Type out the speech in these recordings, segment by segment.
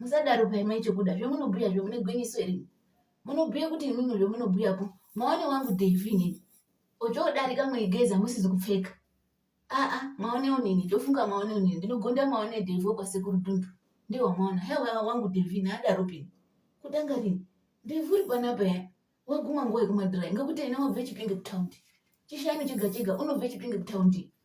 musadaro paimwe chokuda zvemunobhuya zve mune gwinyiso here munobhuya kuti imimi zvemunobhuya po maone wangu devi inini ochodarika muigeza musizi kupfeka aa maone onini ndofunga maone onini ndinogonda maone devi wekwasekuru dundu ndewamaona hewa wangu devi ini adaro pini kutanga rini devi uri panapa ya waguma nguva yekumadhirai ngekuti ina wabve chipinge kutaundi chishanu chega chega unobve chipinge kutaundi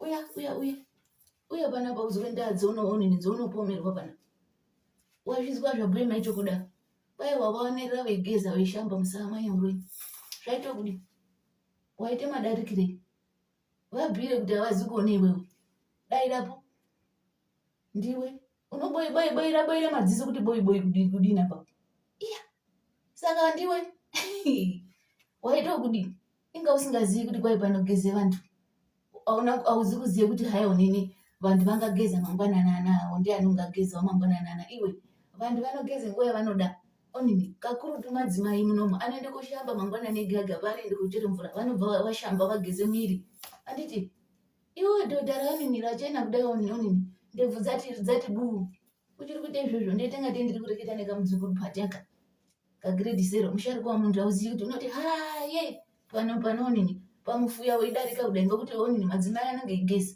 uya uya uya uya pana pa uzwe ndaa dzounoonini dzounopomerwa pana wazvizwa zvabhuye maicho kuda kwaye wavaonerera veigeza veishamba musaa manya uroi zvaita kudi waita madarikirei vabhire kuti havazi kuone iwewe dairapo ndiwe unoboibaira baira madziso kuti boiboi kudina pa iya saka ndiwe waita kudini inga usingazivi kuti kwai panogeze vantu auzi kuziva kuti hai onini vantu vangageza mangwananana awo ndiani ungagezawo mangwananana iwe vantu vanogeza nguva yavanoda onini kakurutu madzimai munomu anoende kushamba mangwanani ega ega paanoende kuchera mvura vanobva vashamba vageze miri anditi iwe dhodha raonini rachena kudai onini ndebvu dzati dzati buu uchiri kuita izvozvo ndoita ngatei ndiri kureketa nekamudzukuru pateka kagrade zero musharuka wamunhu auzivi kuti unoti haye pano panoonini pamufuya weidarika kudai ngokuti onini madzimai anenge igesi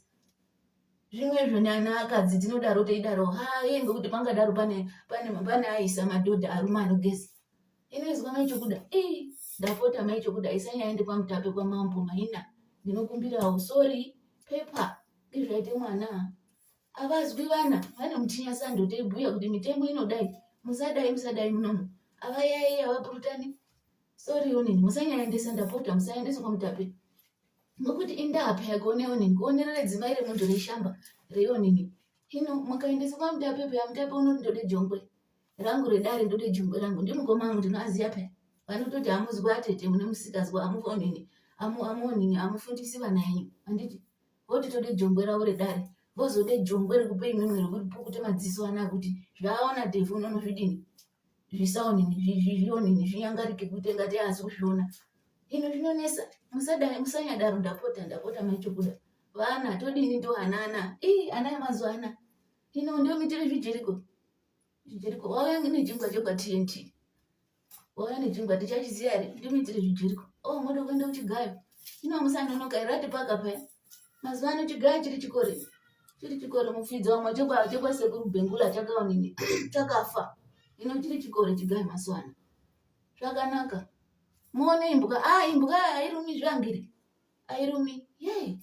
zvimwezvo nana akadzi tinodaro teidaro haye ngokuti pangadaro pane pane pane aisa madhodha arume anogesi inoizwa mai chokuda ii ndapota mai chokuda isanyaende kwamutape kwamambo maina ndinokumbirawo sorry pepa izvaite mwana avazwi vana vane mutinya sando teibhuya kuti mitemo inodai musadai musadai munomu avayaiyi avapurutani sori onini musanyaendesa ndapota musaendesa kwamutape nokuti indapa yake one onini kuonerere dzimai remunhu reshamba reonini hino mukaendesa kwamutape peya mutape unoti ndode jongwe rangu redare ndode jongwe rangu ndimukoma angu ndinoaziya peya vanototi amuzwi atete mune musikazwa amuonini amuonini amufundisi vana yenyu anditi voti tode jongwe ravo redare vozode jongwe rekupe imwimwe rekuti pukute madziso ana kuti zvaaona devhu unono zvidini zvisaonini zvionini zvinyangarike kuite ngati aasi kuzviona ino zvinonesa musanyadaro ndapota ndapota maichokuda vana todini ndo ana ana ii ana yamazuva ana ino ndomitire zvijeriko zvijeriko wauya nechingwa chekwa tnt Vauya nechingwa tichachiziva here? Ndimiitire zvijeriko. Oh, moda kuenda kuchigayo. Ino musanonoka here ati paka paya. Mazuva ano chigayo chiri chikore. Chiri chikore mufidzi wamwe chekwa chekwa sekuru Bengula chakaonini chakafa. Ino chiri chikore chigayo mazuva ano. Zvakanaka. Muone imbwa. Ah, imbwa hairumi zvangiri. Hairumi. Yey.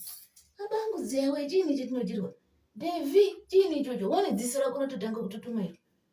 Abangu zewe chini chetinodirwa? Devi chini ichocho? Wone dziso rako rototanga kutotuma iro.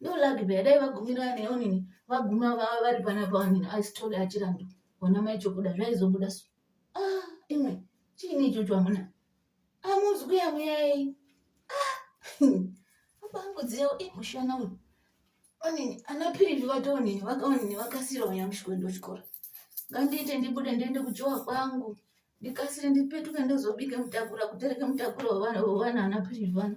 No luck beya dai vagumira neonini vaguma vava vari panapa onini asitore achirambi ona mai chokuda zvaizobuda so. Ah, imwe chiini ichocho amuna amuzwi yamuyai ah, abangudziya imushana uyu onini ana pirivi vatoonini vakaonini vakasira uya mushikwendo chikora ngandiite ndibude ndiende kujowa kwangu ndikasire ndipetuke ndozobike mutakura kutereke mutakura wevana wevana ana pirivi vana